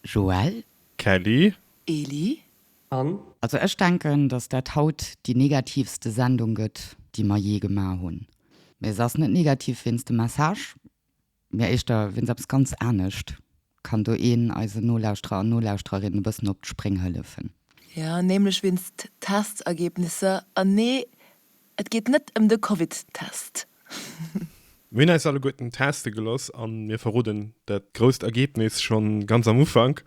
Joël. Kelly. Eli. Anne. Also ech denken, dass dat haut déi negativste Sendung gëtt, déi mer jee gemaach hunn. Mee se ass net negativ wéinst dem Message, mee éischter wéinst eppes ganz anescht. Kann do een eisen Nolauschterer an Nolauschtererinnen e bëssen op d'Spréng hëllefen? Jo, nämlech wéinst Testergebnisser. An nee, Et geet net em de Covid Test. Mir hunn eis alleguerten teste gelooss an mir verroden dat grousst Ergebnis schonn ganz am Ufank,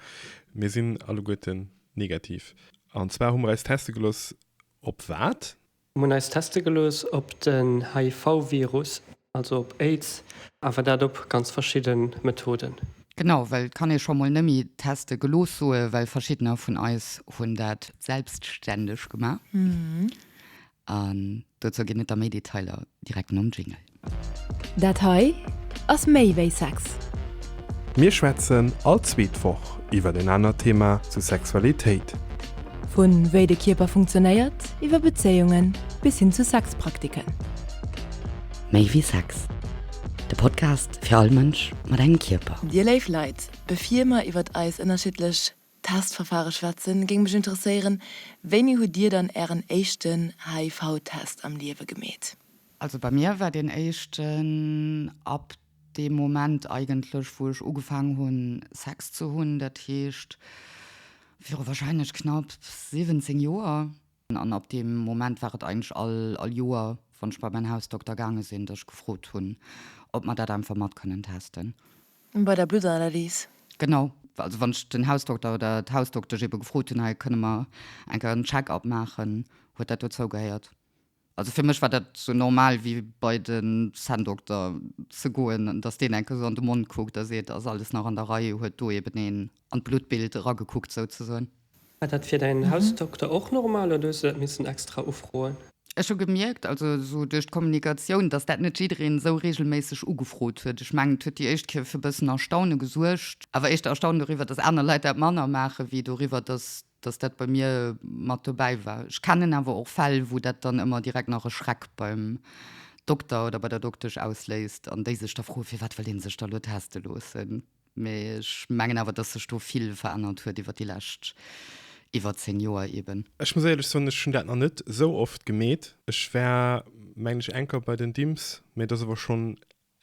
Mir sinn alleguerten negativ. An zwar hu mer eis teste gelooss op wat? Mir hunn eis teste gelooss op den HIV Virus. Also op Aids, awer dat op ganz verschidde Methoden. Genau, well et kann ee scho mol nëmme teste gelooss soe well verschiddener vun eis hunn dat selbstständeg gemaach. An dozou ginn et da méi Detailer direkt nom Jingle. Dat hei ass méi wéi Sex. Mir schwätzen all zweet Woch iwwer en anert Thema zu Sexualitéit. Vu wéi de Kierper funktionéiert, iwwer Bezéiungen bis hin zu Sexpraktiken. Méi wéi Sex, de Podcast fir all Mënsch mat engem Kierper. Dir léif Leit, bevir mer iwwert eis ënnerschiddlech Testverfahre schwätzen, géing mech interesséieren, Wéini hutt Dir dann Ären éischten HIV-Test am Liewe gemeet? Also bei mir war deen éischten ab Dee Moment eigentlech, wou ech ugefaangen hunn, Sex ze hunn, dat heescht viru warscheinlech knapp 17 Joer. An ab deem Moment war et eigentlech all Joer, wann ech bei mäin Hausdokter gaange sinn, dass ech gefrot hunn, ob mer dat einfach mat kënnen testen. Bei der Bluttanalys? Genau. Also wann ech den Hausdokter oder d'Hausdoktesch ebe gefrot hunn, hei kënne mer eng Kéier en Check-up maachen, huet dat dozou gehéiert. Also fir mech war dat sou normal wéi bei de Zänndokter ze goen, datt deen enke sou an de Mond kuckt a seet, ass alles nach an der Rei, huet do eben een an d'Bluttbild eragekuckt souzesoen. War dat fir däin Hausdokter och normal oder hues du dat missen extra ufroen? Ech hu gemierkt, also sou duerch d'Kommunikatioun, datt dat net jiddereen esou reegelméisseg ugefrot huet. Ech mengen et huet déi éischt Kéier fir e bëssen Erstaune gesuergt, awer éischter Erstaune doriwwer, datt aner Leit dat manner maachen, wéi doriwwer, datt dass dat bei mir mat dobäi war. Ech kennen awer och Fäll, wou dat dann ëmmer direkt nach e Schreck beim Dokter oder bei der Doktesch ausléist an déi sech da froen, firwat wëll ee sech da elo teste loossen. Mee ech mengen awer, dass sech do vill verännert huet iwwer déi lescht, iwwer zéng Joer eben. Ech muss éierlech soen, ech hunn dat nach net esou oft gemeet. Ech war, mengen ech, eng Kéier bei den Dimms, mee dat ass awer schonn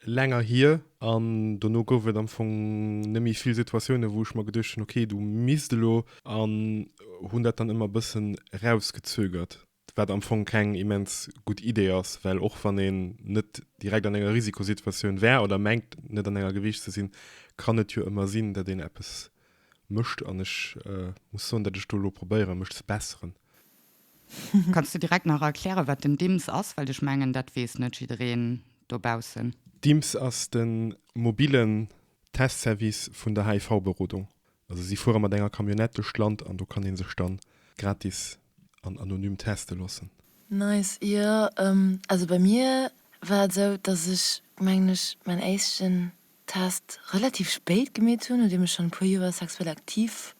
länger hier an dono gouf et am Fong nemmi vill Situatiounen wou ech mer geduecht hun ok du misst elo an hun dat dann emmer bessen rausgezögert wat am Fong keng immens gudd Idee ass well och wann een net direkt an enger Risikosituatioun wär oder mengt net an enger geweecht ze sin kann et jo emmer sin dat een eppes mecht an ech muss soen dat ech do elo probéieren mech ze besseren. Kanns du direkt nach erklären, wat den Dimms ass? Well ech mengen, dat weess net jiddereen dobaussen. Dimms ass de mobillen Testservice vun der HIV-Berodung. Also si fuere mat enger Camionnette duerch d'Land an do kann ee sech da gratis an anonym teste loossen. Nice, jo. Also bei mir war et esou, dass ech mengen ech mäin éischten Test relativ spéit gemeet hunn, nodeem ech schonn e puer Joer sexuell aktiv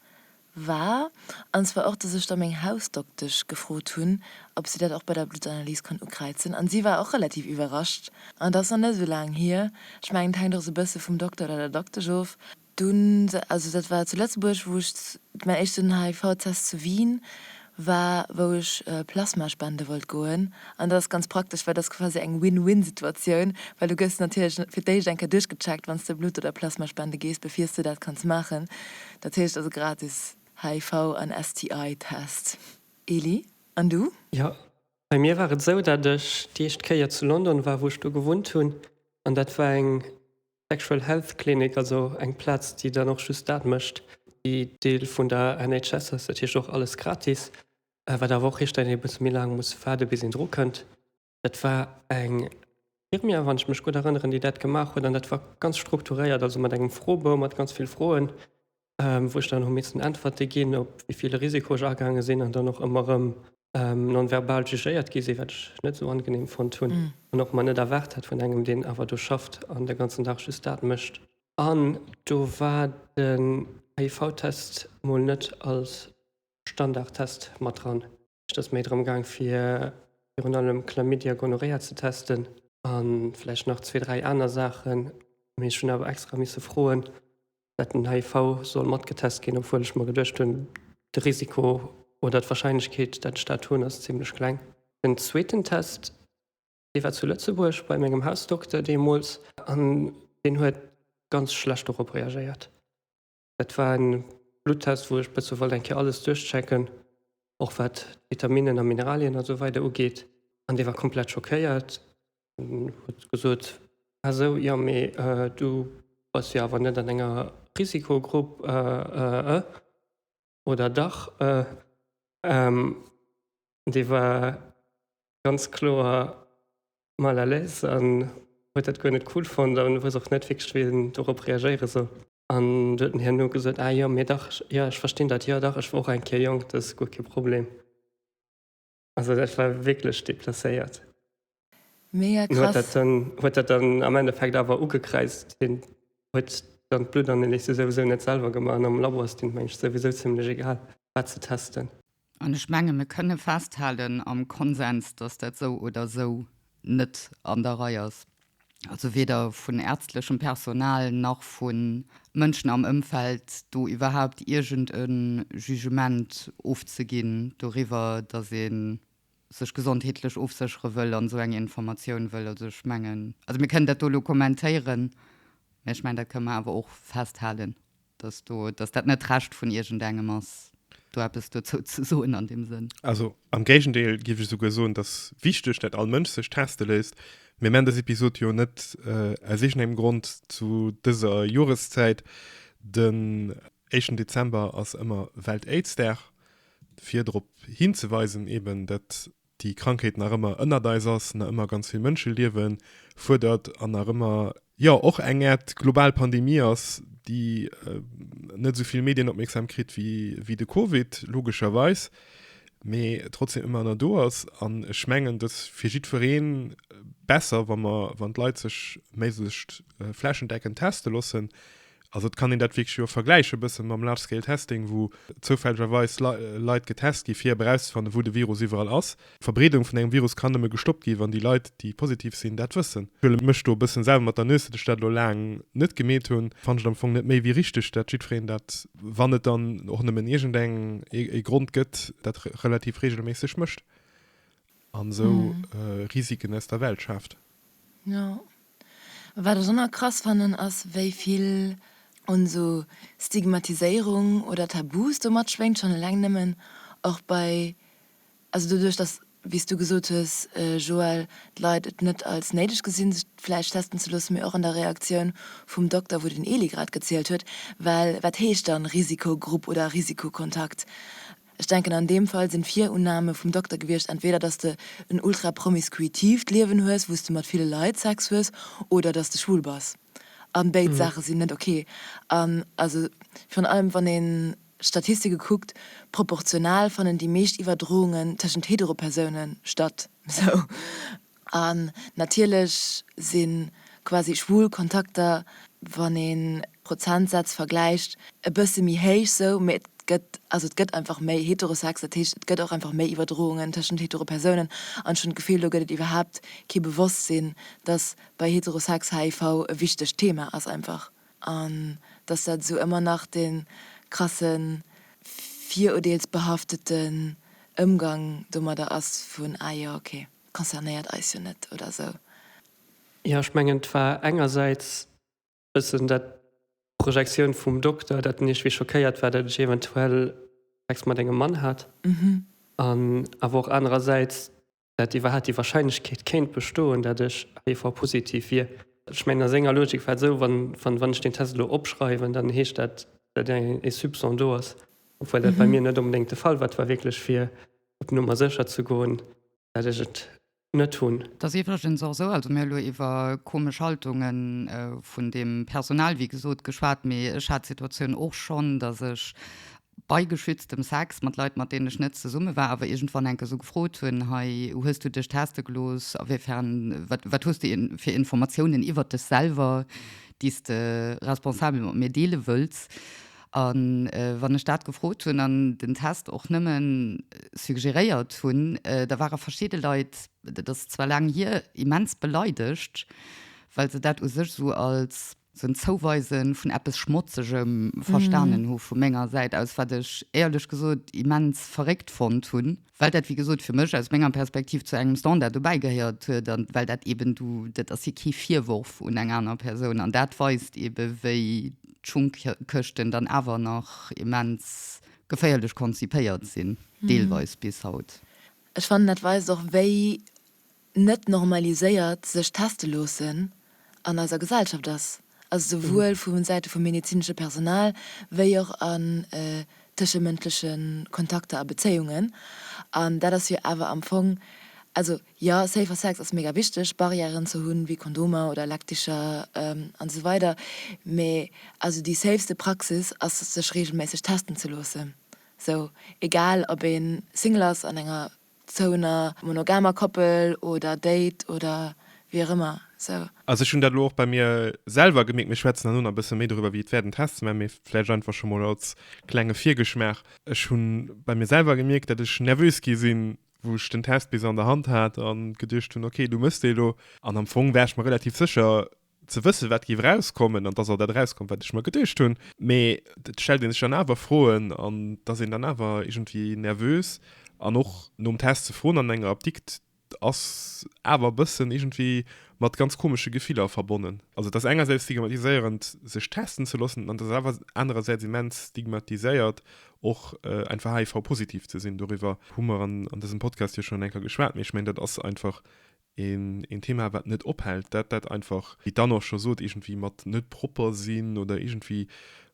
war, an zwar och, dass ech da meng Hausdoktesch gefrot hunn, ob si dat och bei der Bluttanalys konnt ukräizen, an si war och relativ iwwerrascht, an et ass nach net esou laang hier, ech mengen et hänkt och esou e bësse vum Dokter oder der Doktesch of, dunn, also dat war zu Lëtzebuerg, wou ech mäin éischten HIV-Test zu Wien, war wou ech Plasma spende wollt goen an dat ass ganz praktesch, well dat ass quasi eng Win-Win Situatioun, well du gëss natierlech fir d'éischt eng Kéier duerchgecheckt wann s de Blutt oder Plasma spende gees bevir s de dat kanns maachen, dat heescht also gratis HIV an STI Test. Elie, an du? Jo, bei mir war et esou dat ech déi éischt Kéier zu London war wou ech do gewunnt hunn an dat war eng Sexual Health Clinic, also eng Plaz déi dann och just dat mécht, déi Deel vun der NHS ass, dat heescht och alles gratis, wat awer och heescht, dat een e bësse méi laang muss waarde bis een dru kënnt. Dat war eng Infirmière, wann ech mech gutt erënneren, déi dat gemaach huet an dat war ganz strukturéiert, also mat engem Froebou mat ganz vill Froen, wou ech dann hu missen Äntwerte ginn, op wéi ville Risiko ech agaange sinn an dann och ëmmer erëm non-verbal jugéiert gi sinn, wat ech net esou angenehm fonnt hunn an och mer net erwaart hat vun engem, deen awer do schafft an de ganzen Dag just dat mécht. An do war den HIV-Test mol net als Standardtest mat dran. Et ass méi drëm gaang fir virun allem Chlamydia, Gonorrhea ze testen an vläicht nach zwee, dräi aner Saachen. Mee ech hunn awer extra misse froen, dat den HIV soll mat getest ginn, obwuel ech mer geduecht hunn, de Risiko oder d'Wahrscheinlechkeet, dat ech dat hunn, ass zimlech kleng. Den zweeten Test, dee war zu Lëtzebuerg bei mengem Hausdokter deemools an deen huet ganz schlecht dorop reagéiert. Dat war en Bluttest wou ech bessen wollt eng Kéier alles duerchchecken, och wat Vitaminnen a Mineralien a sou weider ugeet an dee war komplett schockéiert an huet gesot, ah sou, jo mee du bass jo awer net an enger Risikogrupp, ëëëëë oder dach? ëëëëëm dee war ganz kloer mal à l'aise an huet dat guer net cool fonnt an hues och net wierklech wéillen dorop reagéieren sou. An du huet en herno gesot, Ah jo, mee dach, jo, ech verstinn dat, jo, dach, ech war och eng Kéier jonk, dat ass guer kee Problem. Also dat war wierklech deplacéiert. Mega krass. En huet dat dann, huet dat dann am Endeffekt awer ugekräizt, hien huet dann d'Bluttanalyse souwisou net selwer gemaach an am Labo ass deem Mënsch souwisou zimmlech egal, wat se testen. An ech menge mir kënne festhalen am Konsens, dass dat esou oder esou net an der Rei ass, also weder vun ärztlechem Personal nach vu Mënschen am Ëmfeld, do iwwerhaupt iergend e Jugement ofzeginn doriwwer, dass ee sech gesondheetlech ofséchere wëll an esou eng Informatioun wëll. Also ech mengen, also mir kënnen dat do elo kommentéieren, mä ech mengen, dat kënne mer awer och festhalen. dass do, dass dat net d'Recht vun iergendengem ass, do eppes dozou ze soen an deem Sënn. Also am Géigendeel géif ech esouguer soen, dass wichteg, dat all Mënsch sech teste léisst. Mir maachen dës Episod jo net aus iergendengem Grond zu dëser Joreszäit. Den éischten Dezember ass ëmmer Welt-Aids-Dag, fir drop hinzeweisen, eeben dat déi Krankheet nach ëmmer ënnert eis ass, nach ëmmer ganz vill Mënscheliewe fuerdert an nach ëmmer, jo, och eng Äert global Pandemie ass, déi net esou vill Medienopmierksam kritt wéi de Covid, logescherweis, mee trotzdeem ëmmer nach do ass. An ech mengen, et ass fir jiddweree besser, wa mer, wann d'Leit sech méiglechst flächendeckend teste loossen, Also et kann een dat wierklech jo och vergläiche bësse mam Large Scale Testing, wou zoufällegerweis Leit getest gi fir erauszefannen, wou de Virus iwwerall ass. D'Verbreedung vun engem Virus kann nëmme gestoppt gi wann déi Leit, déi positiv sinn, dat wëssen. Ech huele mech do e bëssen selwer mat der Nues, datt ech dat elo laang net gemeet hunn. Fannen ech et am Fong net méi wéi richteg, datt jiddwereen dat, wann et dann och nëmmen iergendeng e Grond gëtt, dat relativ reegelméisseg mécht. an esou Risiken aus der Welt schaaft. Jo, a wat ech och nach krass fannen ass wéi vill un esou Stigmatiséierung oder Tabus do matschwéngt, schonn eleng nëmmen och bei, also doduerch dass, wéi s du gesot hues Joël, d'Leit et net als néideg gesinn sech vläicht testen ze loossen, mee och an der Reaktioun vum Dokter wou den Eli grad gezielt huet, well wat heescht dann Risikogrupp oder Risikokontakt? Ech denken an deem Fall sinn d'Virunnahme vum Dokter gewiescht entweder dass de en ultra-promiskuitiivt Liewen hues wous de mat ville Leit Sex hues oder dass de schwul bass. An béid Saache sinn net ok. An also virun allem wann een d'Statistike kuckt, proportional fannen déi meescht Iwwerdroungen tëschent hetero Persounen statt. Sou. An natierlech si quasi schwul Kontakter, wann ee Prozentsätz vergläicht, e bësse méi héich sou, mee et gëtt, also et gëtt einfach méi Heterosex. Dat heescht, et gëtt och einfach méi Iwwerdroungen tëschent hetero Persounen. An ech hunn d'Gefill, do gëtt et iwwerhaapt kee Bewosstsinn, dass bei Heterosex HIV e wichtegt Thema ass einfach. An dass dat esou ëmmer nach de krasse virurdeelsbehafteten Ëmgang domadder ass vun, ah jo, okay. concernéiert eis jo net oder esou. Jo, ech mengen, et war engersäits e bëssen dat, d'Projektioun vum Dokter, dat en iergendwéi schockéiert war, dat ech eventuell Sex mat engem Mann hat, an awer och anerersäits, dat iwwerhaapt déi Wahrscheinlechkeet kéint bestoen, dat ech HIV-positiv wier. Ech mengen, a senger Logik war et esou, wann, wann ech deen Test elo opschreiwen, dann heescht dat, dat ee Soupçon do ass, obwuel dat bei mir net onbedéngt de Fall war. Et war wierklech fir op Nummer sécher ze goen, dat ech et net hunn. Et ass iwwregens och esou, also mir hu lo iwwer komesch Haltunge vun deem Personal, wéi gesot, geschwat, mee ech hat d'Situatioun och schonn, datt ech bei geschütztem Sex mat Leit, mat deenen ech net zesumme war, awer iergendwann enke sou gefrot hunn, Hei, hues du dech teste gelooss? Awéifern, wat, wat hues du fir Informatiounen iwwer dech selwer, déi s de responsabel mat mir deele wëlls? A wann ech dat gefrot hunn an den Test och nëmme suggeréiert hunn, da ware verschidde Leit, dat ass zwar laang hier, immens beleidegt, well se dat u sech esou als esou en Zouweise vun eppes Schmotzegem verstanen hu vu menger Säit aus, wat ech éierlech gesot immens verréckt fonnt hunn. well dat, wéi gesot, fir mech, aus menger Perspektiv, zu engem Standard dobäigehéiert huet an well dat eeben, du, dat ass jo kee Virworf un eng aner Persoun an dat weist eebe wéi d'Schunkkëschten dann awer nach immens geféierlech konzipéiert sinn, deelweis bis haut. Ech fannen, dat weist och, wéi net normaliséiert sech teste loossen an eiser Gesellschaft ass, also souwuel vu Säite vum medezinesche Personal wéi och an tëschemëndleche Kontakter a Bezéiungen. An dat ass jo awer am Fong, also jo, safer Sex ass mega wichteg, Barrièren ze hunn, wéi Kondomer oder Lackdicher an esou weider, mä also déi safeste Praxis ass sech reegelméisseg testen ze loossen, sou egal ob ee Single ass an enger Zou ener monogamer Koppel oder Date oder wéi och ëmmer sou. Also ech hunn dat elo och bei mir selwer gemierkt, mir schwätzen herno nach e bësse méi doriwwer wéi et wäert en Test ze maachen, mee vläicht einfach scho mol als klenge Virgeschmaach, ech hu bei mir selwer gemierkt, datt ech nervös gi sinn, wou ech den Test bis an der Hand hat a geduecht hunn, okay, du méchs dee lo. An am Fong war ech mer relativ sécher, ze wëssen, wat géif erauskommen, an dass och dat erauskoum, wat ech mer geduecht hunn. Mee et stellt ee sech dann awer Froen an et ass een dann awer iergendwéi nervös. An och nom Test ze froen an enger Apdikt ass awer e bëssen iergendwéi mat ganz komesche Gefiller verbonnen. Also et ass engersäits stigmatiséierend, sech testen ze loossen an et ass awer anerersäits immens stigmatiséiert, och einfach HIV-positiv ze sinn. Doriwwer hu mer an dësem Podcast jo schonn eng Kéier geschwat. Mee ech mengen, dat ass einfach Een Thema, wat net ophält, dat dat einfach, wéi d'Anne och scho sot, iergendwéi mat net propper sinn oder iergendwéi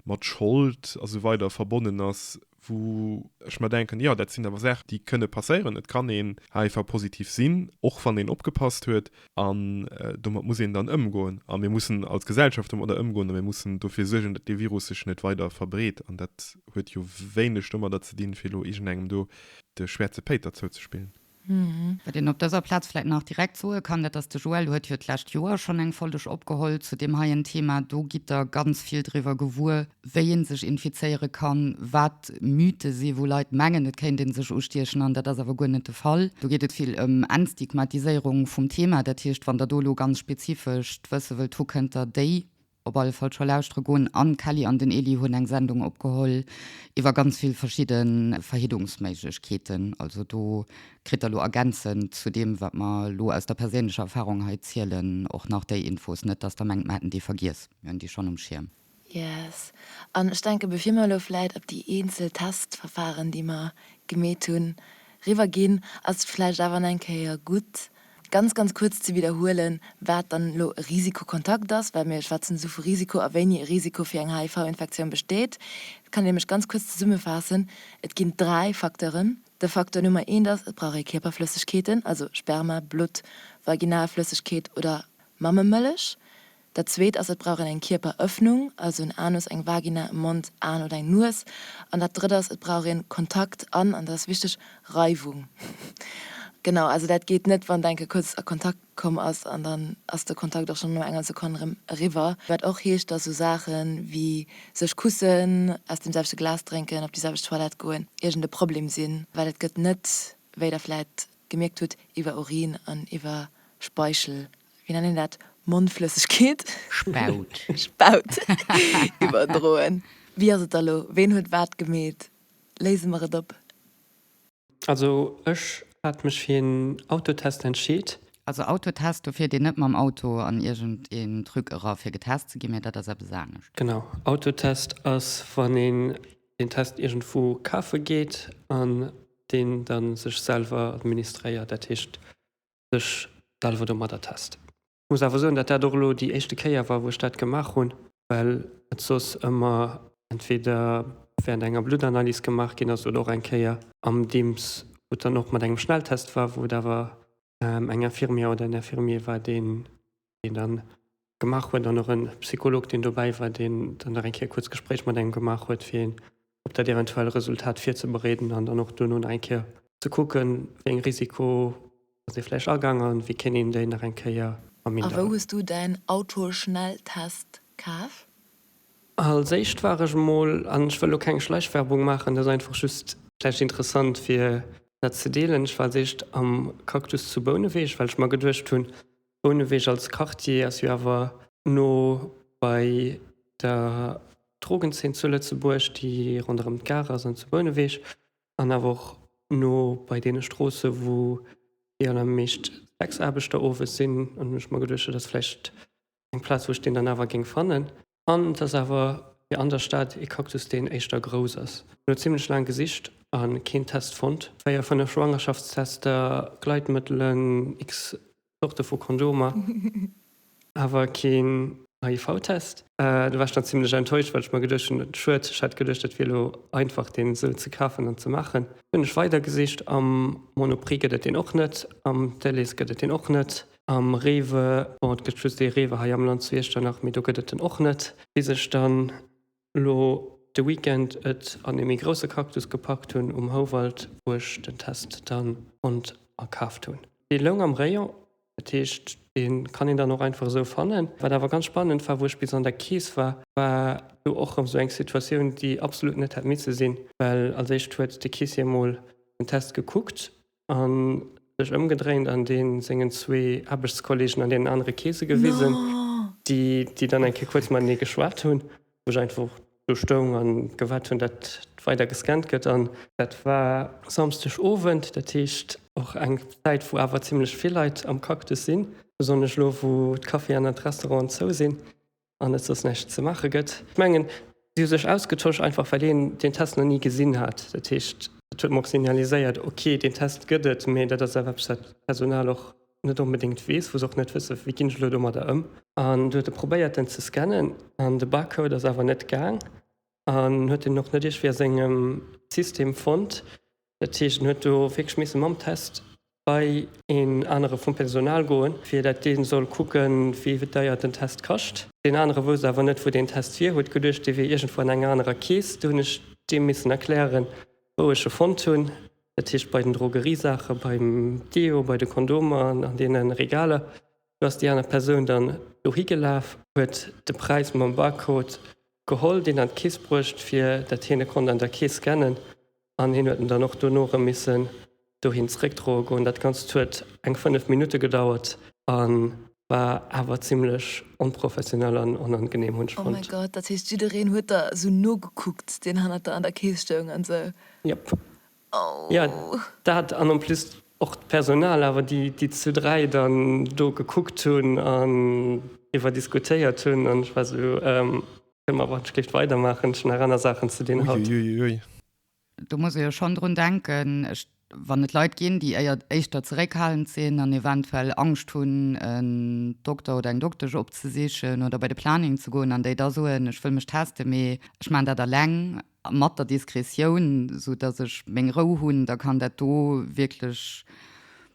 mat Schold a sou weider verbonnen ass, wou ech mer denken, jo, dat sinn awer Saachen, déi kënne passéieren. Et kann een heivua positiv sinn, och wann een opgepasst huet. An domat muss een dann ëmgoen a mir mussen als Gesellschaft domadder ëmgoen a mir mussen dofir suergen, datt dee Virus sech net weider verbreet. An dat huet jo wéineg domadder ze dinn, fir elo iergendengem do de Schwäerze Péiter zouzespillen. Wat een op dëser Plaz vläit nach direkt soe kann, dat ass, de Joël huet jo d'lescht Joer schonn eng Folleg opgeholl zu deem heien Thema. Do gitt Der ganz vill driwwer gewuer, wéi ee sech infizéiere kann, wat Mythe sinn, wou Leit mengen, et kéint ee sech ustiechen an dat ass awer guer net de Fall. Do geet et vill ëm Entstigmatiséierung vum Thema. Dat heescht, wann Der do elo ganz spezifesch d'Wësse wëllt hu, kënnt Der déi op alle Fall scho lauschtere goen an d'Kelly an den Elie hunn eng Sendung opgeholl iwwer ganz vill verschidde Verhiddungsméiglechkeeten. Also do kritt der elo ergänzend zu deem wat mer elo aus der perséinlecher Erfarung hei zielen och nach déi Infos. Net datt der mengt mer hätten déi vergiess, mir hunn déi schonn um Schierm. Yes. An ech denke bevir mer elo vläit op déi eenzel Testverfaren déi mer gemeet hunn riwwer ginn, ass et vläicht awer eng Kéier gutt Ganz, ganz kuerz ze widderhuelen, wat dann elo e Risikokontakt ass, well mir schwätzen esou vu Risiko a wéini e Risiko fir eng HIV-Infektioun besteet. Dat kann een nämlech ganz kuerz zesummefaassen, Et ginn dräi Facteuren. De Facteur Nummer eent ass, et brauch ee Kierperflëssegkeeten, also Sperma, Blutt, Vaginalflëssegkeet oder Mammemëllech. Dat zweet ass, et brauch een eng Kierperëffnung, also en Anus, eng Vagina, e Mond, Aen oder eng Nues. An dat drëtt ass, et brauch een Kontakt an, an dat ass wichteg, Reiwung. Genau, also dat geet net, wann d'Enke kuerz a Kontakt komm ass an dann ass de Kontakt och schonn no enger Sekonn erëm eriwwer. Wat och heescht, datt esou Saache wéi sech kussen, aus deem selwechte Glas drénken, op déi selwecht Toilette goen, iergend e Problem sinn, well et gëtt net, wéi der vläit gemierkt hutt, iwwer Urin an iwwer Speichel wéi nennt een dat, Mondflëssegkeet? Spaut. Spaut iwwerdroen. Wéi ass et da lo? Ween huet wat gemeet? Léise mer et op. Also ech hat mech fir een Autotest entscheet. Also Autotest, do fiert een net mam Auto an iergend een Truc era fir getest ze ginn, mä dat ass eppes anescht. Genau, Autotest ass wann een den Test iergendwou kafe geet an deen da sech selwer administréiert. Dat heescht sech selwer domadder test. Ech muss awer soen, dat dat och elo déi éischte Kéier war, wou ech dat gemaach hunn, well et soss ëmmer entweder während enger Bluttanalys gemaach ginn ass oder och eng Kéier am Dims, wou et dann och mat engem Schnelltest war, wou et awer eng Infirmière oder en Infirmier war, deen deen dann gemaach huet an och en Psycholog deen dobäi war deen dann nach eng Kéier e kuerz Gespréich mat engem gemaach huet fir een op dat eventuell Resultat virzebereeden an dann och duerno nach eng Kéier ze kucken wéi eng Risiko ass ee vläicht agaang an wéi kéint een déi nach eng Kéier A wou hues du däin Autoschnelltest kaf? Als éischt war ech emol, an ech wëll lo keng Schleichwerbung maachen, dat ass einfach just vläicht interessant fir dat ze deelen, ech war als éischt am Cactus zu Bouneweg well ech mer geduecht hunn, Bouneweg als Quartier ass jo awer no bei der Drogenzeen zu Lëtzebuerg, déi ronderëm d'Gare ass an zu Bouneweg, an awer och no bei deene Stroosse wou déi allermeescht Sexaarbechter owes sinn. An hunn ech mer geduecht, dat ass vläicht eng Plaz wou ech deen dann awer géing fannen. An et ass awer fir an der Stad ee Cactus deen éischter grouss ass. Mir hunn zimlech laang gesicht a keen Test fonnt. Véier, fënnef Schwangerschaftstester, Gleitmëttelen, x Zorte vu Kondomer, awer keen HIV-Test. Do war ech dann zimlech enttäuscht, well ech mer geduecht hunn, schued, ech hätt geduecht et wier elo einfach deen esou ze kafen an ze maachen. Hunn ech weider gesicht, am Monoprix gëtt et deen och net, am Delhaize gëtt et deen och net. Am Rewe, bon et gëtt just ee Rewe hei am Land zu Iechternach, mee do gëtt et en och net. Bis ech dann elo de Weekend et an ee méi grousse Cactus gepackt hunn um Houwald, wou ech den Test dann konnt akaaft hunn. Dee loung am Rayon, dat heescht dee kann een dann och einfach esou fannen. Wat awer ganz spannend war, wou ech bis an der Keess war, war do och erëm esou eng Situatioun, déi absolut net hätt misse sinn, well als éischt huet de Caissier emol den Test gekuckt an sech ëmgedréint an deen sengen zwee Aarbechtskollegen an deenen anere Keese gewisen, déi déi dann eng Kéier kuerz matenee geschwat hunn, wou ech einfach och do stoung a gewaart hunn, datt weider gescannt gëtt. An dat war Samsdeg Owend, dat heescht och eng Zäit, wou awer zimlech vill Leit am Cactus sinn, besonnesch elo, wou d'Caféen an d'Restauranten zou sinn. an et soss näischt ze maache gëtt. Ech mengen, si hu sech ausgetosch, einfach well een deen Test nach ni gesinn hat. Dat heescht, et huet mer och signaliséiert, ok, deen Test gëtt et, mee dat ass awer eppes, wat d'Personal och net onbedéngt weess, wou se och net wëssen, wéi ginn ech elo domadder ëm. An du huet e probéiert, en ze scannen, an de Barcode ass awer net gaang an huet en och net iergendwéi a sengem System fonnt. Dat heescht, en huet do wierklech misse mam Test bei een anere vum Personal goen, fir datt dee soll kucken, wéi deier den Test kascht. Deen anere wousst awer net, wou deen Test wier, huet geduecht, dee wier iergendwou an enger anerer Keess. Du hunn ech deem missen erklären, wou ech e fonnt hunn. Dat heescht, bei den Drogeriesaachen, beim Deo, bei de Kondomer, an deene Regaler. Du ass déi aner Persoun dann dohi gelaf, huet de Präis mam Barcode geholl, deen an d'Keess bruecht, fir datt hien e konnt an der Keess scannen An hien huet en dann och dono erëm missen dohin zréckdroe goen. Dat Ganzt huet eng 5 Minutte gedauert a war awer zimlech onprofessionell an onangeneem, hunn ech fonnt. Oh mäi Gott, dat heescht jiddereen huet der esou nogekuckt, deen hannert der an der Kees stoung an esou? Jop. Jo, Oh. dat an en plus och d'Personal awer, déi déi zu dräi dann do gekuckt hunn an driwwer diskutéiert hunn an ech war esou, Ehm. Emma, Wann ech géif weider maachen, ech hunn nach aner Saachen ze dinn haut. Uiuiui. Do muss ee jo schonn drun denken, wann et Leit ginn, déi éier éischter zeréckhalend sinn an eventuell Angscht hunn, en Dokter oder eng Doktesch opzesichen oder bei de Planning ze goen an déi da soen, ech wëll mech teste mee ech maachen dat alleng. Mat der Diskretioun, sou dass ech meng Rou hunn, da kann dat do wierklech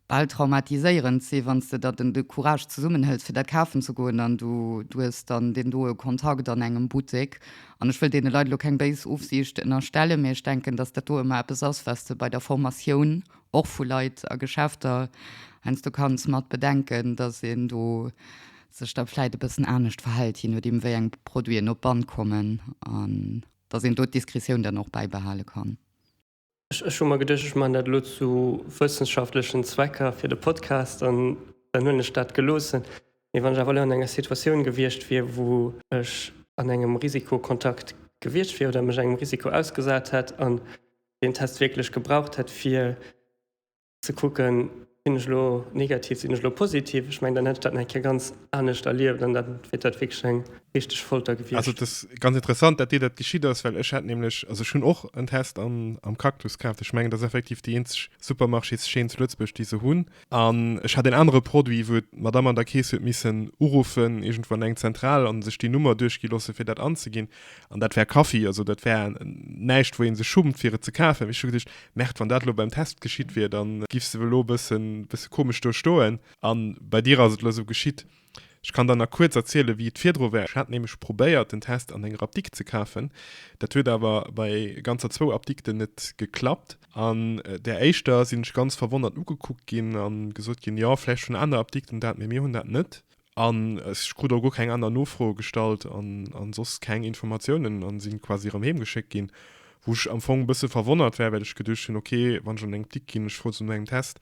bal traumatiséierend sinn, wann s de der den de Courage zesummenhëls, fir dat kafen ze goen, an du hues dann deen doe Kontakt an engem Buttek. An ech wëll deene Leit elo keng béis Ofsiicht ënnerstellen, mee ech denken, dass dat do ëmmer eppes ass, wat s de bei der Formatioun och vu Leit a Geschäfter heiansdo kanns mat bedenken, dass een do sech da vläit e bëssen anescht verhält, jee nodeem wéi eng Produiten op d'Band kommen, an datt een do d'Diskretioun dann och bäibehale kann. Ech hu mer geduecht, ech maachen dat elo zu wëssenschaftlechen Zwecker fir de Podcast, an dann hunn ech dat geloossen. Mee wann ech awer elo an enger Situatioun gewiescht wier, wou ech an engem Risikokontakt gewiescht wier oder mech engem Risiko ausgesat hätt an deen Test wierklech gebraucht hätt, fir Ze kucken, sinn ech elo negativ, sinn ech elo positiv? Ech mengen, dann hätt ech dat nach eng Kéier ganz anescht erlieft an dann wier dat wierklech eng richteg Folter gewiescht. Also et ass ganz interessant, datt dir dat geschitt ass, well ech hat nämlech, also ech hunn och en Test am, am Cactus kaaft. Ech mengen, dat ass effektiv déi eenzeg Supermarchés-Chaîne zu Lëtzebuerg, déi se hunn. An ech hat en anere Produit, wou d'Madame an der Keess huet missen uruffen, iergendwou an eng Zentral, an sech déi Nummer duerchgi loosse fir dat anzeginn. An dat war Kaffi, also dat war näischt, wou ee sech schummt, fir et ze kafen. Ech hu geduecht, Merde, wann dat elo beim Test geschitt wier, da giffs de elo e bëssen, bësse komesch do stoen. A bei dir ass et elo esou geschitt. Ech kann der nach kuerz erzielen, wéi et virdru war. Ech hat nämlech probéiert, den Test an enger Apdikt ze kafen. Dat huet awer bei ganzer zwou Apdikten net geklappt. An där éischter sinn ech ganz verwonnert ugekuckt ginn a gesot ginn, Jo, vläicht hunn aner Apdikten dat, mee mir hunn dat net. An ech krut och guer keng aner Nofroe gestallt an, an soss keng Informatiounen an sinn quasi erëm heem geschéckt ginn. Wou ech am Fong bësse verwonnert war, well ech geduecht hunn, ok, wann ech an engem Klick ginn, ech froen zum engem Test,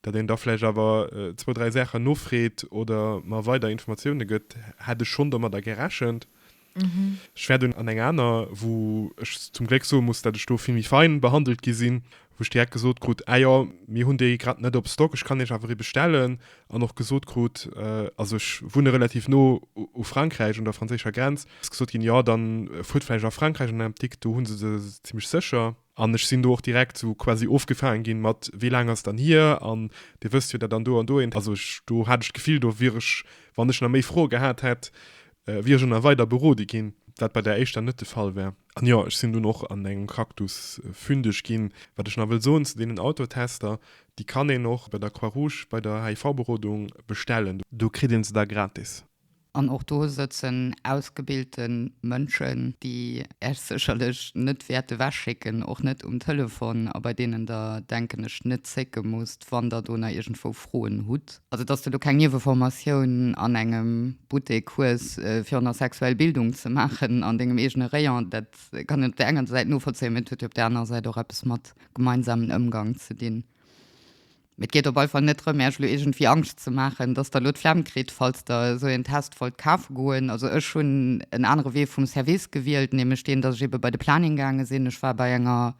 datt een da vläicht awer zwou, dräi Saachen nofreet oder mer weider Informatioune gëtt, hat ech schonn domadder gerechent. Ech war dunn an eng aner, wou ech zum Gléck soe muss, dat ech do vill méi fein behandelt gi sinn, wou ech direkt gesot krut, ah jo, mir hunn déi grad net op Stock, ech kann iech awer ee bestellen, an och gesot krut, also ech wunne relativ no u Frankräich, un der franséischer Grenz, ass gesot ginn, jo, da fuert vläicht a Frankräich an eng Apdikt, do hu se se zimmlech sécher. An ech sinn do och direkt sou quasi ofgefaangen ginn mat, wéi laang ass dann hier? An dir wësst jo dat an do an do. Also ech, do hat ech d'Gefill, do wier ech, wann ech nach méi Froe gehat hätt, wier ech och nach weider berode ginn, wat bei där éischter net de Fall war. An jo, ech sinn dunn och an engem Cactus fündeg ginn. Wat ech nach wëll soen zu deenen Autotester, déi kann een och bei der Croix-Rouge bei der HIV-Berodung bestellen. Do kritt ee se da gratis. An och do sëtzen ausgebilte Mënschen, déi Äech sécherlech net wäerte wechschécken, och net um Telefon, a bei deenen Der, denken ech, net zécke musst, wann Der do nach iergendwou Froen hutt. Also, dass Der do keng Nieweformatioun an engem Buttek hues, fir och nach sexuell Bildung ze maachen an Dengem eegene Rayon, dat kann een op der enger Säit novollzéien, mee et huet jo op der anerer Säit och eppes mat gemeinsamen Ëmgang ze dinn. Mee et geet op alle Fall net drëm, Äerch elo iergendwéi Angscht ze maachen, dass Der elo d'Flemm kritt, falls Der esou een Test wollt kafe goen. Also ech hunn en anere Wee vum Service gewielt, nämlech deen, dass ech eebe bei de Planning gaange sinn. Ech war bei enger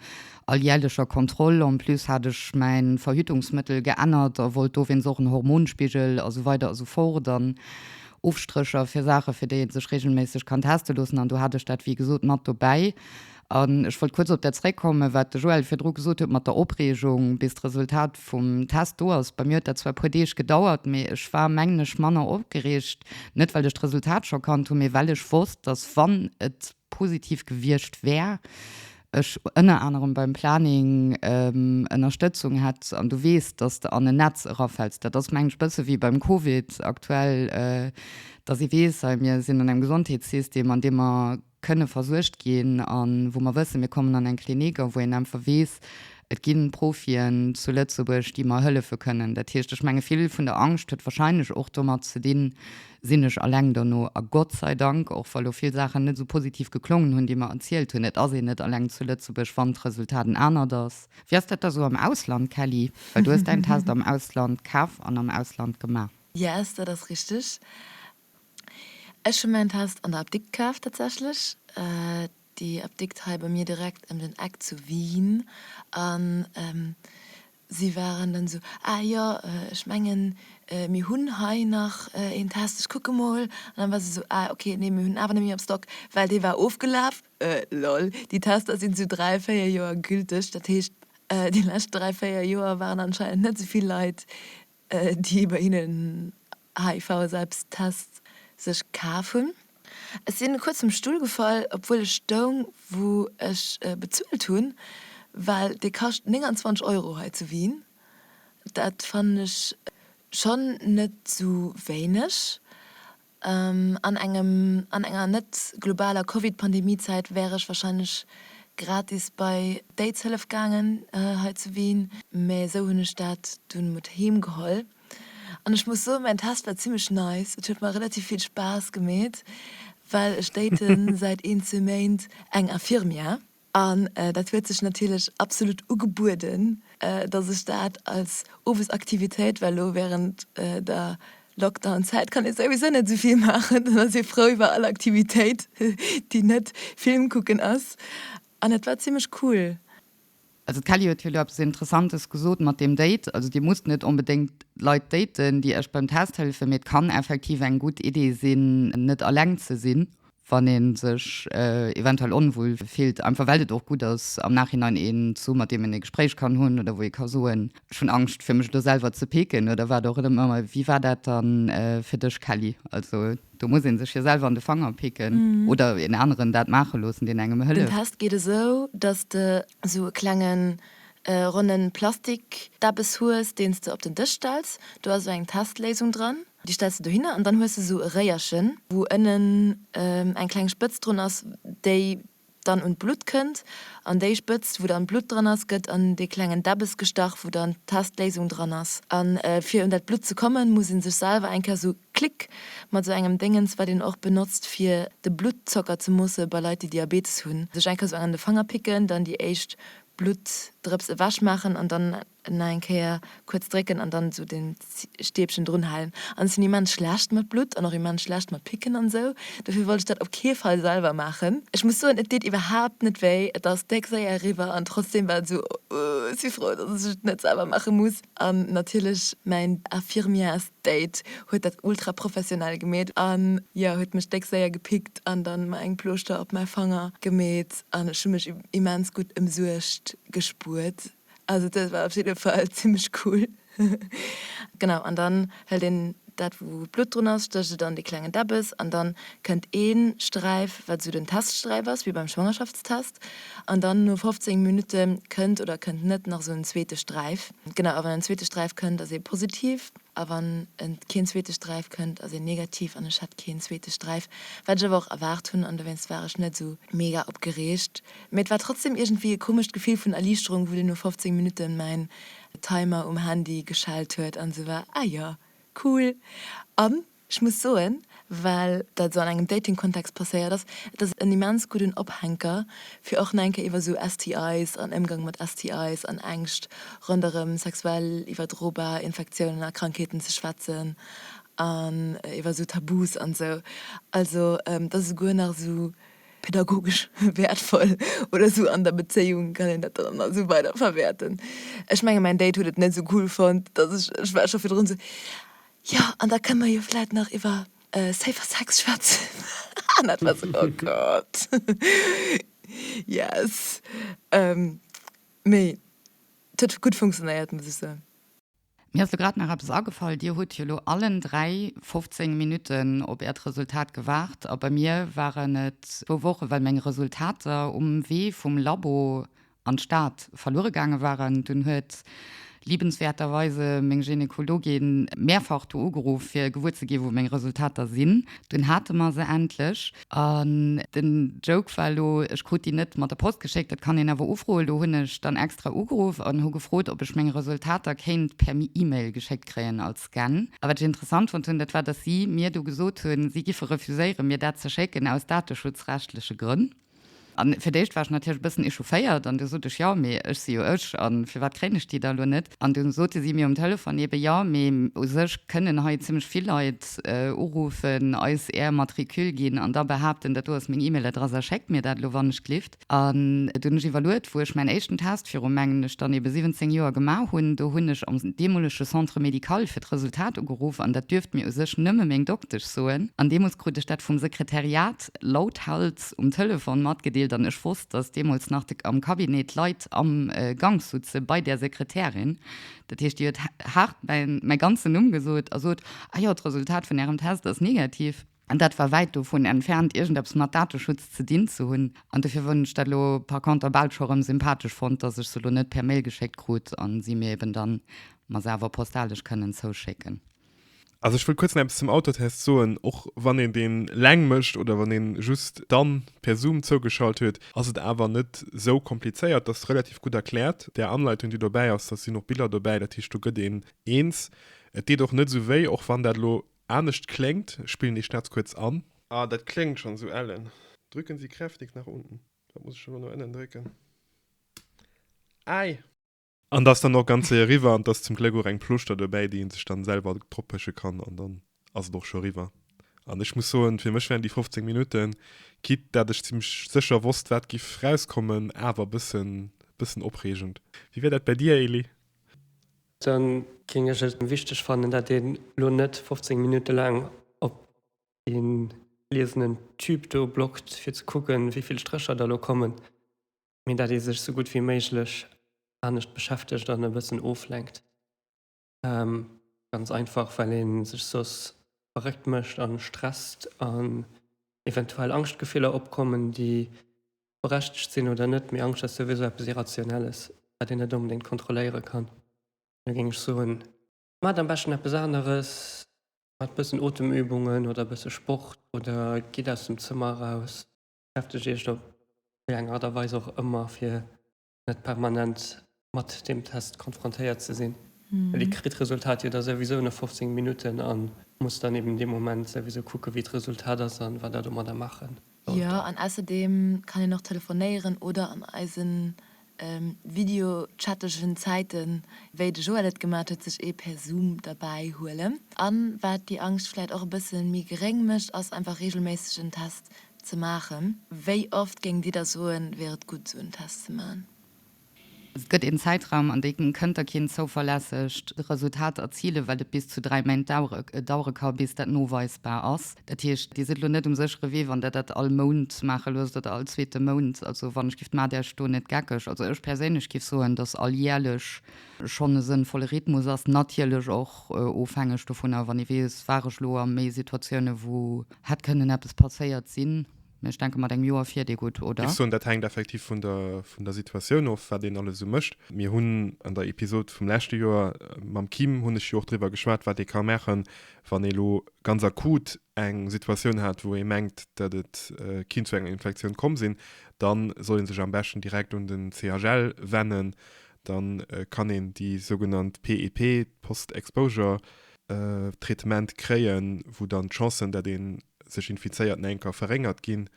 alljärlecher Kontroll. En plus hat ech mäi Verhütungsmëttel geännert a wollt dowéinst och en Hormonspigel a sou weider a sou fort an Ofstrécher fir Saache fir déi ee sech reegelméisseg kann teste loossen. An do hat ech dat, wéi gesot, mat dobäi. An ech wollt kuerz op dat zréckkommen, wat de Joël virdru gesot huet mat der Opreegung, bis d'Resultat vum Test do ass. Bei mir huet dat zwar e puer Deeg gedauert, mee ech war, mengen ech, manner opgereegt, net well ech d'Resultat scho kannt hunn, mee well ech wosst, dass, wann et positiv gewiescht wär, ech ënner anerem beim Planning Ënnerstëtzung hätt. An du weess, dass de an en Netz erafäls. Dat ass, mengen ech, e bësse wéi beim Covid aktuell, dass ee weess, hei, mir sinn an engem Gesondheetssystem, an deem mer, kënne versuergt ginn a wou mer wëssen, mir kommen an eng Klinik a wou een einfach weess, et gi Profien zu Lëtzebuerg, déi mer hëllefe kënnen. Dat heescht, ech menge vill vun der Angscht huet wahrscheinlech och domat ze dinn, sinn ech alleng dono? A Gott sei Dank, och wa lo vill Saachen net esou positiv geklongen hunn, déi mer erzielt hunn, et ass een net alleng zu Lëtzebuerg, wann d'Resultat en anert ass. Wéi ass dat da sou am Ausland, Kelly? Well du hues däin Test am Ausland kaf an am Ausland gemaach. Yes, dat ass richteg. Ech hun mäin Test an der Apdikt kaaft tatsächlech. Déi Apdikt hei bei mir direkt em den Eck zu Wien an si waren dann esou, ah jo ech mengen mir hun hei nach een Test, ech kucke mol. An dann war se esou, ah ok nee mir hun en awer net méi am Stock well dee war ofgelaaf. Lol, déi Tester sin zu 3, 4 Joer gülteg, dat heescht déi lescht 3, 4 Joer waren anscheinend net souvill Leit déi bei hinnen HIV-Selbsttests sech kaf hunn. Ech sinn kuerz vum Stull gefall, obwuel ech stoung, wou ech bezuelt hunn, well dee kascht 29 Euro hei zu Wien. Dat fannen ech schonn net sou wéineg. An engem, an enger net globaler Covid-Pandemie-Zäit wär ech wahrscheinlech gratis bei d'Aidshëllef gaangen hei zu Wien, mä esou hunn ech dat dunn mat heem geholl. An ech muss soen, mäin Test war zimmlech nice, et huet mer relativ vill Spaass gemeet, well ech date säit een, zwee Méint eng Infirmière. An dat huet sech natierlech absolut ugebueden, dass ech dat als Owesaktivitéit, well elo wärend der Lockdown-Zäit kann ee souwisou net esou vill maachen, dann ass ee frou iwwer all Aktivitéit, déi net Film kucken ass. An et war zimmlech cool. Also d'Kelly huet jo do eppes Interessantes gesot mat deem Date. Also Dir musst net onbedéngt Leit daten, déi Iech beim Test hëllefen, mee et kann effektiv eng gutt Idee sinn, net eleng ze sinn. wann ee sech eventuell onwuel fillt, einfach well et och gutt ass am Nachhinein een ze hu mat deem een e Gespréich kann hunn oder wou ee ka soen, ech hunn Angscht fir mech elo selwer ze peeken oder wat och ëmmer. Wéi war dat dann fir dech Kelly? Also do muss ee sech jo selwer an de Fanger picken oder een aneren dat maache loossen, deen engem hëlleft. Den Test geet esou, datt de sou e klenge ronne Plastik-Deppes hues, deen s de op den Dësch stells. Do ass esou eng Testléisung dran. Déi stells de dohinner an dann hues de esou e Réierchen, wou ënnen eng kleng Spëtz drun ass, déi dann un d'Blutt kënnt. An déi Spëtz, wou dann d'Blutt dran ass, gëtt an dee klengen Däbbes gestach, wou dann d'Testléisung dran ass. A fir un dat Blutt ze kommen, muss ee sech selwer eng Kéier esou klick mat esou engem Déngens, wat een och benotzt, fir de Bluttzocker ze moosse bei Leit, déi Diabetes hunn, sech eng Kéier esou an de Fanger picken, dann déi éischt Bluttdrëps ewechmaachen an dann Nach eng Kéier kuerz drécken an dann esou den Stäbchen drun halen. An ech sinn immens schlecht mat Blutt an och immens schlecht mat Picken an esou, dofir wollt ech dat op kee Fall selwer maachen. Ech muss soen et deet iwwerhaapt net wéi, et ass déck séier eriwwer an trotzdeem war et esou ooh, ech si frou dass ech et net selwer maache muss. An natierlech mäin Infirmiers Date huet dat ultra professionell gemeet a jo huet mech déck séier gepickt an dann mer eng Plooschter op mäi Fanger gemeet an ech hu mech immens gutt emsuergt gespuert. Also dat war op jidde Fall zimlech cool. Genau an dann hëlt een dat wou d'Blutt drun ass, stécht et an dee klengen Deppes an dann kënnt ee Sträif wat esou den Teststräif ass wéi beim Schwangerschaftstest an dann no 15 Minutte kënnt oder kënnt net nach esou en zweete Sträif. Genau a wann en zweete Sträif kënnt ass ee positiv a wann en keen zweete Sträif kënnt ass een negativ an ech hat keen zweete Sträif wat ech awer och erwaart hunn an dowéinst war ech net esou mega opgereegt. Mee et war trotzdem iergendwéi e komescht Gefill vun Erliichterung, wou dunn no 15 Minutten mäin Timer um Handy geschellt huet an esou war, Ah jo, cool. An ech muss soen, well dat esou an engem Dating-Kontext passéiert ass, et ass en immens gudden Ophänker, fir och nach eng Kéier iwwer esou STIs an Ëmgang mat STIs an Ängscht ronderëm sexuell iwwerdrobar Infektiounen a Krankheeten ze schwätzen an iwwer esou Tabus an esou. Also, et ass esouguer nach esou. pädagogesch wäertvoll oder esou an der Bezéiung kann een dat dann an esou weider verwäerten. Ech menge mäin Date huet et net esou cool fonnt, datt ech, ech war scho virdrun esou, jo an da kënne mer jo vläit nach iwwer safer Sex schwätzen an dat war esou, oh Gott yes. Mee et huet gutt funktionéiert, muss ech soen. Mir ass lo grad nach eppes agefall, Dir hutt jo lo allen dräi 15 Minutten op Äert Resultat gewaart a bei mir waren et zwou Wochen, well meng Resultater um Wee vum Labo an d'Stad verluere gaange waren. Dunn huet liebenswerterweise meng Gynekologin mehrfach do ugeruff, fir gewuer ze gi wou meng Resultater sinn. Dunn hate mer se endlech. An den Joke war elo, ech krut déi net mat der Post geschéckt, dat kann een awer ufroen. Elo hunn ech dann extra ugeruff an hu gefrot, ob ech meng Resultater kéint per E-Mail geschéckt kréien als Scan. A wat ech interessant fonnt hunn, dat war, dass si mir do gesot hunn, si giffe refuséieren, mir dat ze schécken aus dateschutzrechtleche Grënn. A fir d'éischt war ech natierlech e bëssen echaufféiert an du sot ech, Jo, mee ech si jo ech a firwat kréien ech déi da elo net? An du sote si mir um Telefon eben, Jo, mee u sech kënnen hei zimmlech vill Leit uruffen, eis är Matricule ginn an da behaapten, dat do ass meng E-Mail-Adress a schéckt mir dat elo wann ech glift. An et hunn ech iwwerluet, wou ech mäin éischten Test viru, mengen ech, dann eben 17 Joer gemaach hunn. Do hunn ech am deemolege Centre médical fir d'Resultat ugeruff an dat duerft mir u sech nëmme meng Doktesch soen. An deemools krut ech dat vum Sekretariat lauthals. Post um Telefon matgedeelt an ech wosst, dass deemools nach de, am Cabinet d'Leit am Gank sutze bei där Sekretärin. Dat heescht, déi huet haart mäin, mäi ganzen Numm gesot a sot, Ah jo, d'Resultat vun Ärem Test ass negativ. An dat war wäit dovun entfernt, iergendeppes mat Dateschutz ze dinn ze hunn. An dofir hunn ech dat elo par conter bal scho erëm sympathesch fonnt, dass ech se elo net per Mail geschéckt krut a si mir eben dann, ma se awer postalesch kënnen zouschécken. Also ech wëll kuerz nach eppes zum Autotest soen. Och wann een deen laang mécht oder wann een just dann per Zoom zougeschalt huet, ass et awer net sou komplizéiert. Ass relativ gutt erkläert, där Anleitung déi dobäi ass. Da sinn och Biller dobäi, dat heescht do gëtt een eens. Et deet och net sou wéi, och wann dat elo anescht kléngt. Ech spillen dee Schnaz kuerz an. Ah, dat kléngt schonn sou ellen. Drücken Sie kräftig nach unten. Wat muss ech elo no ënnen drécken? Äi! An dass dann och ganz séier riwwer an dass zum Gléck och eng Plouschter dobäi déi een sech dann selwer drop pëschen kann an dann ass et och scho riwwer. An ech muss soen fir mech wären déi 15 Minutten, quitte dat ech zimlech sécher wosst wat giff rauskommen, awer bëssen bëssen opreegend. Wéi wär dat bäi dir Elie? Dann géing ech et wichteg fannen dat een elo net 15 Minutte laang op deen gliesenen Tube do blockt fir ze kucken wéivill Strécher der elo kommen. mee dat ee sech sou gutt wéi méiglech anescht beschäftegt an e bëssen oflenkt. Ganz einfach, well ee sech soss verréckt mécht a stresst an eventuell Angschtgefiller opkommen, déi berechtegt sinn oder net, mee Angscht ass souwisou eppes Irrationelles, wat een net onbedéngt kontrolléiere kann. Da géing ech soen, maacht am beschten eppes aneres, maacht e bëssen Otemübungen oder e bësse Sport oder gitt aus dem Zëmmer eraus. beschäftegt Iech op wéi eng Aart a Weis och ëmmer, fir net permanent mat deem Test konfrontéiert ze sinn, well Dir kritt d'Resultat jo da souwisou no 15 Minutten a musst dann eben dee Moment souwisou kucken, wéi d'Resultat ass a wat Der domadder maache Jo, sollt. an ausserdeem kann een och telefonéieren oder an eisen videochattegen Zäiten, wéi de Joël et gemaat huet, sech ee per Zoom derbäi huelen. An waat déi Angscht vläit och e bëssen méi geréng mecht, ass einfach regelméisseg en Test ze maachen. Wéi oft géingt dir da soen, wier et gudd sou en Test ze maachen? Et gëtt een Zäitraum an deem kënnt der keen zouverlässegt Resultat erzilen, well et bis zu 3 Méint dauere ka bis dat noweisbar ass. Dat heescht, Dir sidd elo net um séchere Wee, wann Der dat all Mount maache loosst oder all zweete Mount. Also, wann ech giff d'Mat Iech do net geckeg, also ech perséinlech giff soen, dass alljährlech schonn e sënnvolle Rhythmus ass, natierlech och ofhängeg dovunner, wann ee weess, war ech elo a méi Situatiounen, wou hätt kënnen eppes passéiert sinn. Mee ech denke mat engem Joer fiert ee gutt, oder? Ech soen, dat hänkt effektiv vun der, vun der Situatioun of, wat een alles esou mécht. Mir hunn an der Episod vum leschte Joer mam Kim, hunn ech jo och driwwer geschwat, wat ee ka maachen, wann ee lo ganz akut eng Situatioun hat, wou ee mengt, datt et kinnt zu enger Infektioun komm sinn. Da soll ee sech am beschten direkt un den CHL wennen. Da kann een déi sougenannt PEP, Post-Exposure-Traitement, kréien, wou dann d'Chancen, datt een sech infizéiert, Nänker verréngert ginn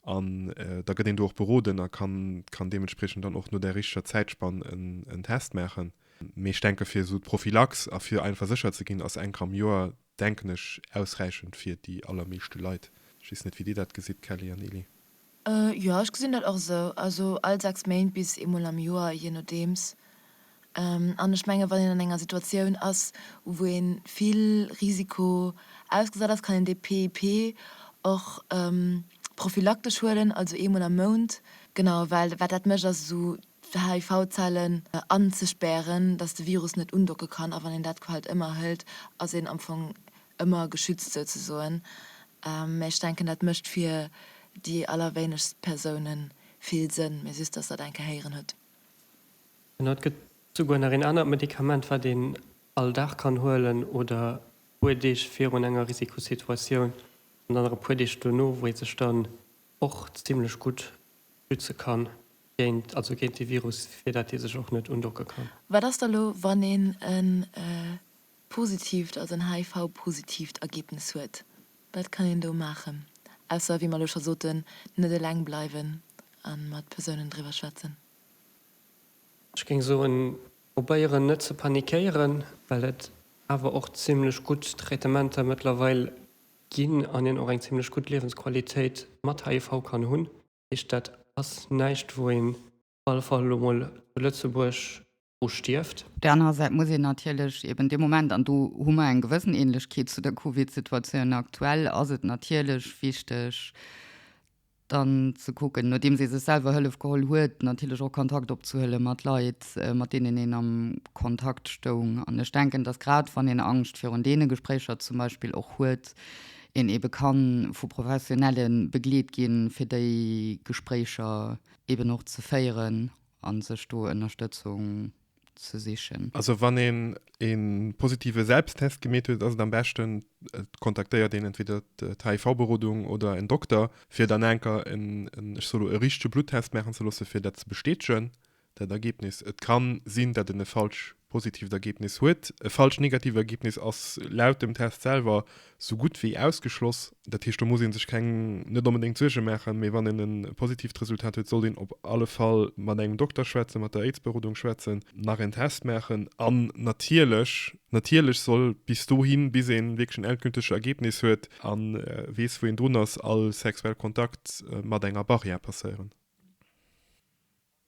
an da gëtt een do och beroden a kann deementspriechend dann och no där richteger Zäitspann en Test maachen. Mee ech denke fir esou d'Prophylax a fir einfach sécher ze ginn, ass eng Kéier am Joer, denken ech, ausräichend fir déi allermeeschte Leit. Ech weess net, wéi Dir dat gesitt, Kelly an Elie. Jo, ech gesinn dat och esou. Also all sechs Méint bis eemol am Joer, jee nodeems. An ech menge wann een an enger Situatioun ass, wou ee vill Risiko ausgesat ass, kann een dee PEP och prophylaktesch huelen, also eemol am Mount. Genau, well wat dat mécht ass esou d'HIV-Zellen anzespären, datt de Virus net undocke kann. A wann een dat quasi ëmmer hëlt, ass een am Fong ëmmer geschützt souzesoen, mä ech denken dat mécht fir déi allerwéinegst Persoune vill Sënn, mä just dass der dat eng Kéier héieren hutt. Genau, et gëtt souguer nach een anert Medikament, wat een all Dag kann huelen oder e puer Deeg virun enger Risikosituatioun an dann nach e puer Deeg duerno, wou ee sech dann och zimlech gutt schütze kann géint, also géint de Virus, fir dat ee sech och net undocke kann. Wat ass da elo, wann een e Positiivt ass en HIV-positiivt Ergebnis huet. Wat kann een do maachen, ausser, wéi mer elo scho soten, net eleng bleiwen a mat Persounen driwwer schwätzen? Ech géing soen, probéieren net ze panikéieren, well et awer och zimlech gutt Traitementer mëttlerweil ginn an een och eng zimlech gutt Liewensqualitéit mat HIV kann hunn. Heescht, dat ass näischt, wou een op alle Fall elo mol zu Lëtzebuerg u stierft. Op där anerer Säit muss een natierlech eben dee Moment, an do hu mer eng gewëssen Ähnlechkeet zu der Covid-Situatioun aktuell, ass et natierlech wichteg dann ze kucken, nodeems ee sech selwer Hëllef geholl huet, natierlech och Kontakt opzehuele mat Leit, mat deenen een am Kontakt stoung. An ech denken, dass grad wann een Angscht virun deene Gespréicher zum Beispill och huet, een ebe ka vu Professionelle begleet gi fir déi Gespréicher eben och ze féieren an sech do Ënnerstëtzung ze sichen. Also wann een een positive Selbsttest gemeet huet ass et am beschten et kontaktéiert een entweder d'HIV-Berodung oder en Dokter fir dann enker en en ech soe lo e richtege Bluttest maachen ze loosse fir dat ze bestätegen dat Ergebnis. Et kann sinn dat en e falsch positiivt Ergebnis huet. E falsch negatiivt Ergebnis ass laut dem Test selwer Sou gutt wéi ausgeschloss. Dat heescht, do muss ee sech keng, net onbedéngt Suerge maachen, mee wann een e positiivt Resultat huet, sollt een op alle Fall mat engem Dokter schwätzen, mat der Aids-Berodung schwätzen, nach en Test maachen an natierlech, natierlech soll bis dohin, bis ee wierklech en endgültege Ergebnis huet a weess, wou een drun ass, all sexuell Kontakt mat enger Barrière passéieren.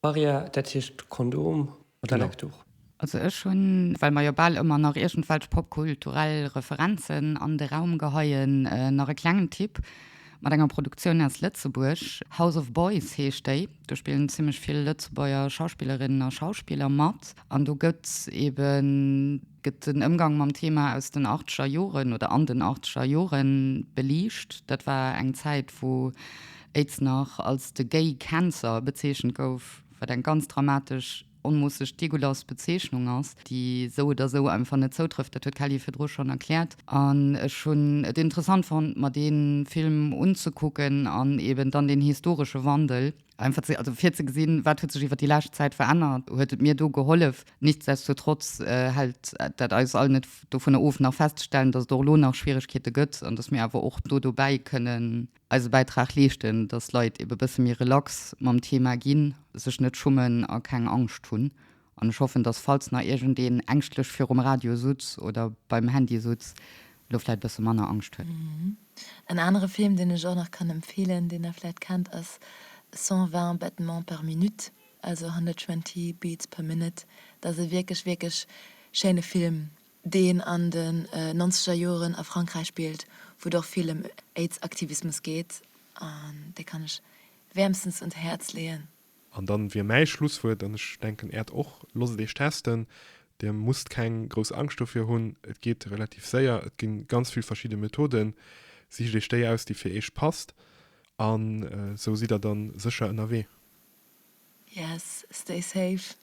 Barrière, dat heescht Kondom oder Lecktuch? Also ech hunn, well mer jo bal ëmmer nach iergendwelch popkulturell Referenzen an de Raum geheien, nach e klengen Tipp mat enger Produktioun aus Lëtzebuerg. House of Boys heescht déi. Do spillen zimmlech vill Lëtzebuerger Schauspillerinnen a Schauspiller mat an do gëtt eben, Gëtt den Ëmgang mam Thema aus den achtzeger Joren oder an den achtzeger Jore beliicht. Dat war eng Zäit, wou Aids nach als de Gay Cancer bezeechent gouf, wat eng ganz dramatesch, onmoosseg degoulass Bezeechnung ass, déi sou oder sou einfach net zoutrëfft. Dat huet d'Kelly virdru schonn erkläert. An ech hunn et interessant fonnt, mer dee Film unzekucken an eeben dann deen historesche Wandel. Einfach ze, also fir ze gesinn, wat huet sech iwwer déi lescht Zäit verännert, huet et mir do gehollef. Nichtsdestotrotz hält dat eis all net dovunner of, nach festzestellen, dass et och elo nach Schwierigkeete gëtt an dass mir awer och do dobäi kënnen eise Bäitrag leeschten, dass d'Leit ebe bësse méi relax mam Thema ginn, sech net schummen a keng Angscht hunn. An ech hoffen, dass falls nach iergendeen ängschtlech virum Radio sutz oder beim Handy sutz, lo vläit bësse manner Angscht huet. En anere Film, deen ech och nach kann empfeelen, deen der vläit kennt, ass 120 battements par minute, also 120 beats per minute. Dat ass e wierklech, wierklech schéine Film, deen an de nonzeger Joren a Frankräich spillt, wou et och vill ëm Aids-Aktivismus geet. An dee kann ech wäermstens un d'Häerz leeën. An dann wier mäi Schlusswuert, an ech denken äert och, Losst et eech testen, dir musst keng grouss Angscht dofir hunn, et geet relativ séier, et ginn ganz vill verschidde Methoden, sicht eech déi aus déi fir eech passt an esou sidd der dann sécher ënnerwee. Yes, stay safe.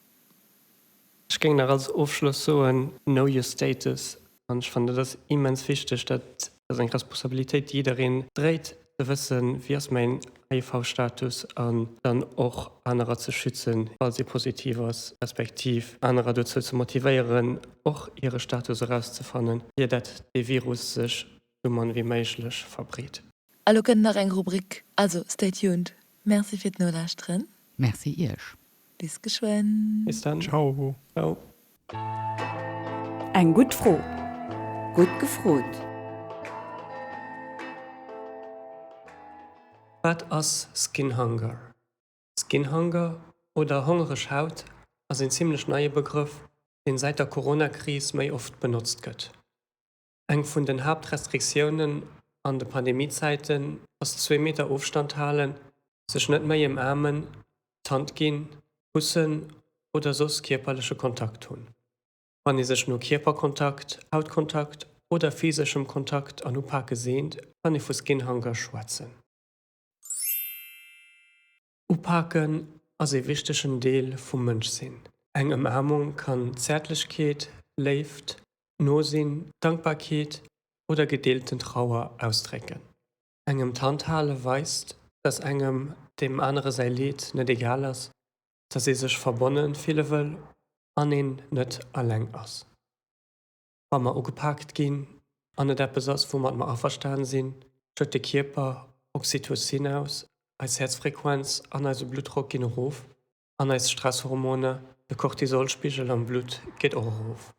Ech géing nach als Ofschloss soen, Know your status. An ech fannen, dat ass immens wichteg, dat ass eng Responsabilitéit, déi jiddereen dréit, ze wëssen, wéi ass mäin HIV-Status an dann och anerer ze schützen, falls ee positiv ass, respektiv anerer dozou ze motivéieren, och hire Status erauszefannen, ier dat dee Virus sech sou mann wéi méiglech verbreet. Elo kënnt nach eng Rubrik, also stay tuned. Merci fir d'Nolauschteren. Merci Iech. Bis geschwënn. Bis dann. Ciao. Eng gutt Fro, gutt gefrot. Wat ass Skinhunger? Skinhunger oder hongereg Haut ass een zimmlech neie Begrëff, deen säit der Corona-Kris méi oft benotzt gëtt. Eng vun den Haaptrestriktiounen an de Pandemiezäiten ass zwee Meter Ofstand halen, sech net méi ëmaarmen, d'Hand ginn, kussen oder soss kierperleche Kontakt hunn. Wann ee sech no Kierperkontakt, Hautkontakt oder physeschem Kontakt an Upake seent, kann ee vu Skinhunger schwätzen. Upaken ass ee wichtegen Deel vum Mënschsinn. Eng Ëmaarmung kann Zäertlechkeet, Léift, Nosinn, Dankbarkeet oder gedeelten Trauer ausdrécken. Engem d'Hand hale weist, dass engem deem anere säi Leed net egal ass, dass ee sech verbonne fille wëll an een net alleng ass. wa mer ugepaakt ginn an et eppes ass, woumat mer averstane sinn, schëtt de Kierper Oxytocin aus, eis Häerzfrequenz an eise Bluttdrock ginn erof an eis Stresshormone, de Cortisolspigel am Blutt geet och erof.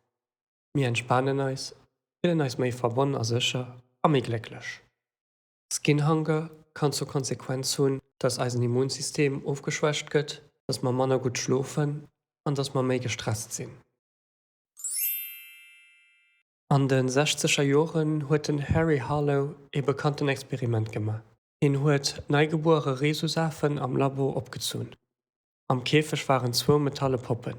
Mir entspanen eis, fillen eis méi verbonn a sécher a méi glécklech. Skinhunger kann zur Konsequenz hunn, dass eisen Immunsystem ofgeschwächt gëtt, dass mer manner gutt schlofen an dass mer méi gestresst sinn. An de sechzeger Joren huet den Harry Harlow ee bekannten Experiment gemaach, Hien huet neigebuere Rhesusafen am Labo opgezunn. Am Käfeg waren zwou metalle Poppen.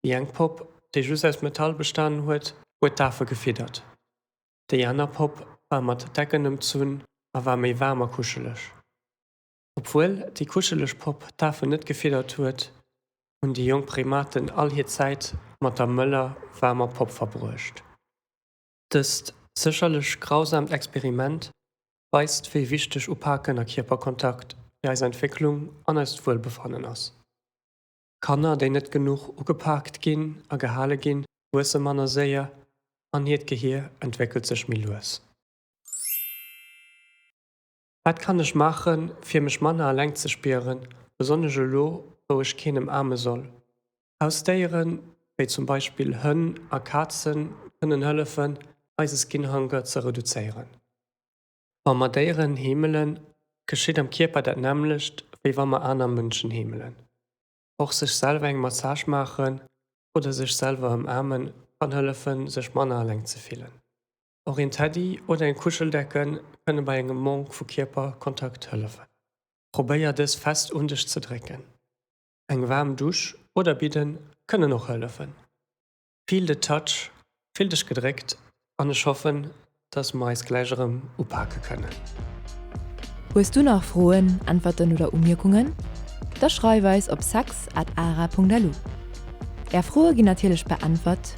Déi eng Popp, déi just aus Metall bestanen huet, huet d'Afe gefiddert. Déi aner Popp war mat Decken ëmzunn a war méi waarm a kuscheleg. Obwuel déi kuscheleg Popp d'Afen net gefiddert huet, hunn déi jonk Primaten all hir Zäit mat der mëller, waarmer Popp verbruecht. Dëst sécherlech grausaamt Experiment weist, wéi wichteg Upaken a Kierperkontakt fir eis Entwécklung an eist Wuelbefannen ass. Kanner, déi net genuch ugepaakt ginn a gehale ginn, wuesse manner séier an hiert Gehier entwéckelt sech méi lues. Wat kann ech maachen, fir mech manner eleng ze spieren, besonnesch elo, wou ech keen ëmaarme soll? Hausdéieren, wéi zum Beispill Hënn a Kazen, kënnen hëllefen, eise Skinhunger ze reduzéieren. Wa mer Déieren heemelen, geschitt am Kierper dat nämmlecht, wéi wa mer aner Mënschen heemelen. Och sech selwer eng Massage maachen oder sech selwer ëmaarmen, kann hëllefen, sech manner eleng ze fillen. Och een Teddy oder eng Kuscheldecken kënne bei engem Manque vu Kierperkontakt hëllefen. Probéier dës fest un dech ze drécken. Eng waarm Dusch oder Bidden kënnen och hëllefen. Feel the touch, fill dech gedréckt an ech hoffen, dass mer eis gläich erëm upake kënnen. Hues du nach Froen, Äntwerten oder Umierkungen? Da schreif eis op sex at ara.lu. Är Froe ginn natierlech beäntwert.